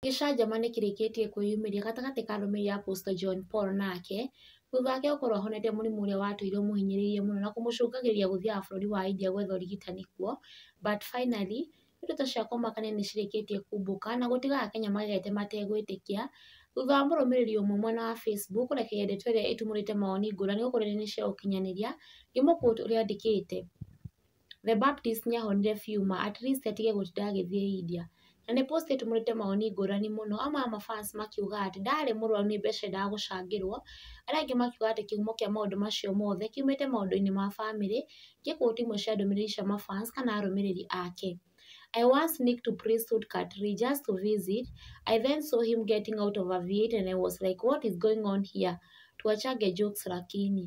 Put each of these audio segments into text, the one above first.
Gĩcanjama nĩ kĩrĩkĩtie kwĩyumĩria gatagatĩ ka arũmĩrĩri a Apostle John Paul nake, thutha wake gũkorwo ahonete mũrimũ ũrĩa watũire ũmũhinyĩrĩirie mũno na kũmũcũngagĩrĩria gũthiaga bũrũri wa India gwetha ũrigitani kuo, but finally ndeto cia kũmakania nĩ cirĩkĩtie kumbũka na gũtiga Akenya magegete mategwĩtĩkia, thutha wa mũrũmĩrĩri ũmwe mwena wa Facebook kũrekereria ndeto ĩrĩa ĩtumũrĩte mawoni ngũrani gũkũ nenda-inĩ cia ũkinyanĩria, ngĩmũ quote ũrĩa andĩkĩte. The Baptist nĩ ahonire biũ ma at least atige gũtinda agĩthiĩ India. Na nĩ post ĩtumũrĩte mawoni ngũrani mũno, amwe a ma fans makiuga atĩ ndarĩ mũrwaru nĩ mbeca endaga gũcangĩrwo, arĩa angĩ makiuga atĩ kĩhumo kĩa maũndũ macio mothe kiumĩte maũndũ-inĩ ma bamĩrĩ, ngĩ quote imwe cia ndũmĩrĩri cia ma fans kana arũmĩrĩri ake. I once sneaked to Prince Tut Katri just to visit, I then saw him getting out of a V8 and I was like what is going on here? Tuachange jokes lakini.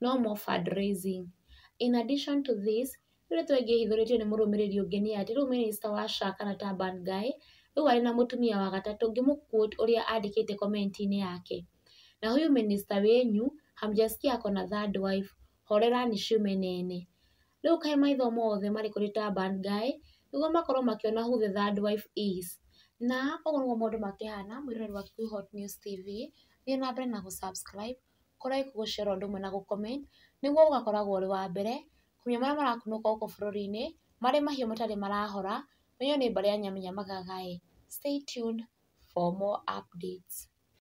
no more fund raising. In addition to this rĩu tũngĩhithũrĩtio nĩ mũrũmĩrĩri ũngĩ nĩ atĩ rĩu minister wa SHA kana ta bad guy rĩu arĩ na mũtumia wa gatatũ ngĩmũ quote ũrĩa andĩkĩte comment inĩ yake na huyu minister wenyu hamjaskia ako na third wife horerani ciume nene. Rĩu kaĩ maitho mothe marĩ kũrĩ ta bad guy nĩguo makorwo makĩona who the third wife is. Na ũguo nĩguo maũndũ makĩhana mwĩroreri wa Kikuyu Hot News TV thiĩ na mbere na gũ subscribe. kũraihu gũcera ũndũ ũmwe na gũ comment nĩguo ũgakoragwo ũrĩ wa mbere kũmenya marĩa marakunũka gũkũ bũrũri-inĩ marĩ mahiũ matarĩ marahora ũmenye nĩ mbarĩ ya nyamũ nyamagaga ĩ, stay tuned for more updates.